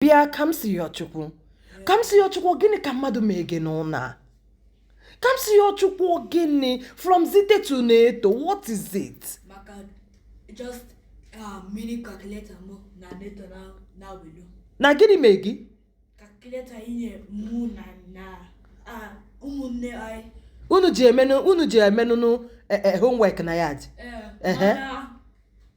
bịa Kamsiyọchukwu Kamsiyọchukwu gịnị ka mmadụ mee gị n'ụnọ a Kamsiyọchukwu gịnị from Zite to Neto what is it maka just uh, mini calculator mụ na Neto na nwelu na gịnị mee gị calculator i nye mụ na na ah, ụmụnne anyị unu ji emenụ unu ji emenụnụ eh, eh, homework na ya dị Eh, Ehe. mana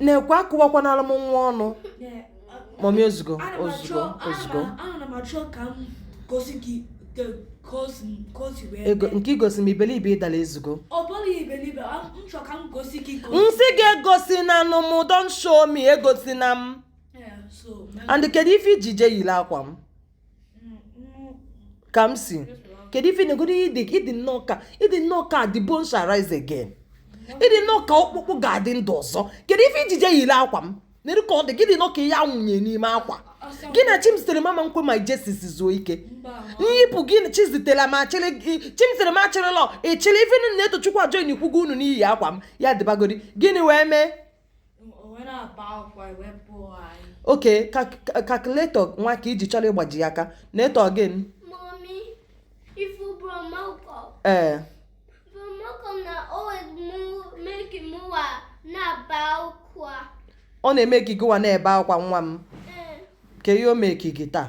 nekwa akụwakwanalụ m nwa ọnụ mommy ozugbo ozugbo ozugbo ego nke igosi m ibelibe ịdala ezugo m sị gị egosinanụ m don't show me egosina m and kedu ife i ji je yiri akwa m Kamsi kedu ife negodu ị dị ị dị nnọọ ka ị dị nnọọ ka the bone shall rise again ị dị nnọọ ka ọkpụkpụ ga-adị ndụ ọzọ kedu ife i ji je yiri akwa m nere ka ọ dị gị dị nnọọ ka ihe anwụnye n'ime akwa gị na Chimzitere ama ekwe mụ na Jesus zuo ike m yipụ gị na Chizitere ma achịrị gị- Chimzitere ma achịrịlọ ị chịrị ife nụ Netochukwu ajoinikwugo unu n'iyi akwa m ya dịbagodi gịnị wee mee okay calculator nwa ka i ji chọrọ ịgbaji ya aka Neto again ọ na-emeki gịnwa na-ebe akwa nwa m eh. kee ihe o mee gị taa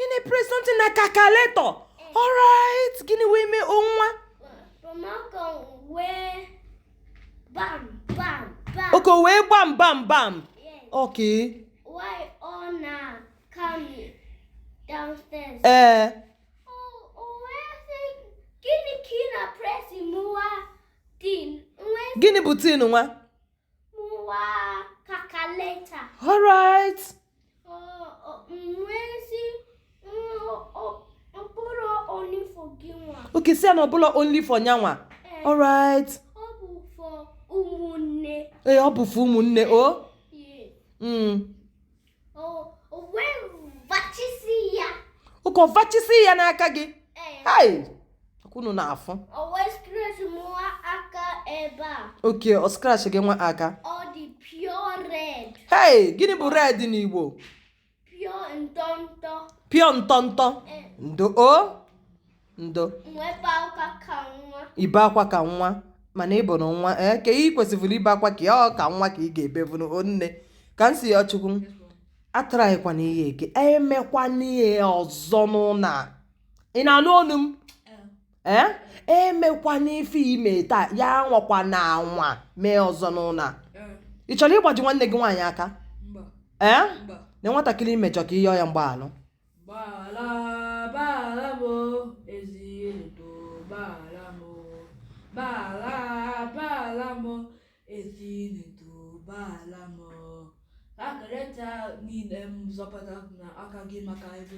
ị na-epress something na calculator alright gịnị wee mee onwa okay ọ wee bam bam bam okay ee eh. gịnị bụ thing nwa All right. Okay, sị ya na ọ bụlọ only for nyanwa. Eh. All right. Ee, ọ bụ for ụmụnne o? Mm. ọ kọvachisi ya n'aka gị unu na-afụ okay ọ scratch gịnwa aka hei gịnị bụ red n'igbo pure ntọntọ ndo o ndo ibe akwa ka nwa mana ịbụ na nwa ee eh, ka ị kwesịrị ibe akwa ka ya ọ ka nwa ka ị ga-ebevunu onne Kamsiyochukwu atraịkwana ihe eke emekwana ihe ọzọ n'ụnọ a ị na-anụ onu m ee eh? eh? emekwana ife i me taa ya anwakwana anwa mee ọzọ n'ụnọ a ị chọrọ ịgbaji nwanne gị nwaanyị aka ee na nwatakịrị i mejọ ka ị yọọ ya mgbaalụ Calculator niile m zọpụta n'aka gị maka ego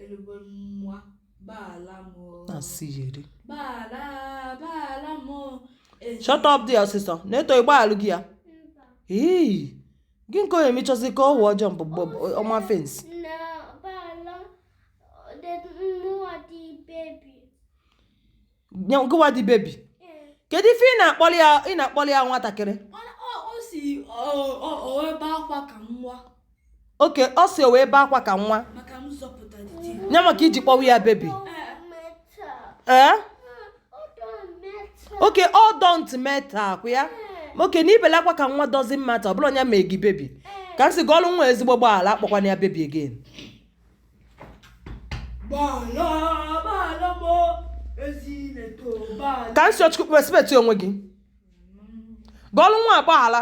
elugbo nwa gbaalụ m na-asị ya eri gbaalụ gbaalụ m shut up there ọsịsọ Neto ị gbaalụ gị ya ee gị nke onye mechọzi ka ọ wụọ jump over fence gụwa dị baby kedu ife ị na-akpọli ya nwatakịrị okay ọ si o wee bee akwa ka nwa nya maka i ji kpọwa ya baby ee okay ọ don't matter ọkwa ya okay na ibele akwa ka nwa doesn't matter ọ bụrụ onye mee gị baby Kamsi gọọlụ nwa ezigbo gbaala akpọkwana ya baby again Kamsiyochukwu respect onwe gị gọọlụ nwa agbaghala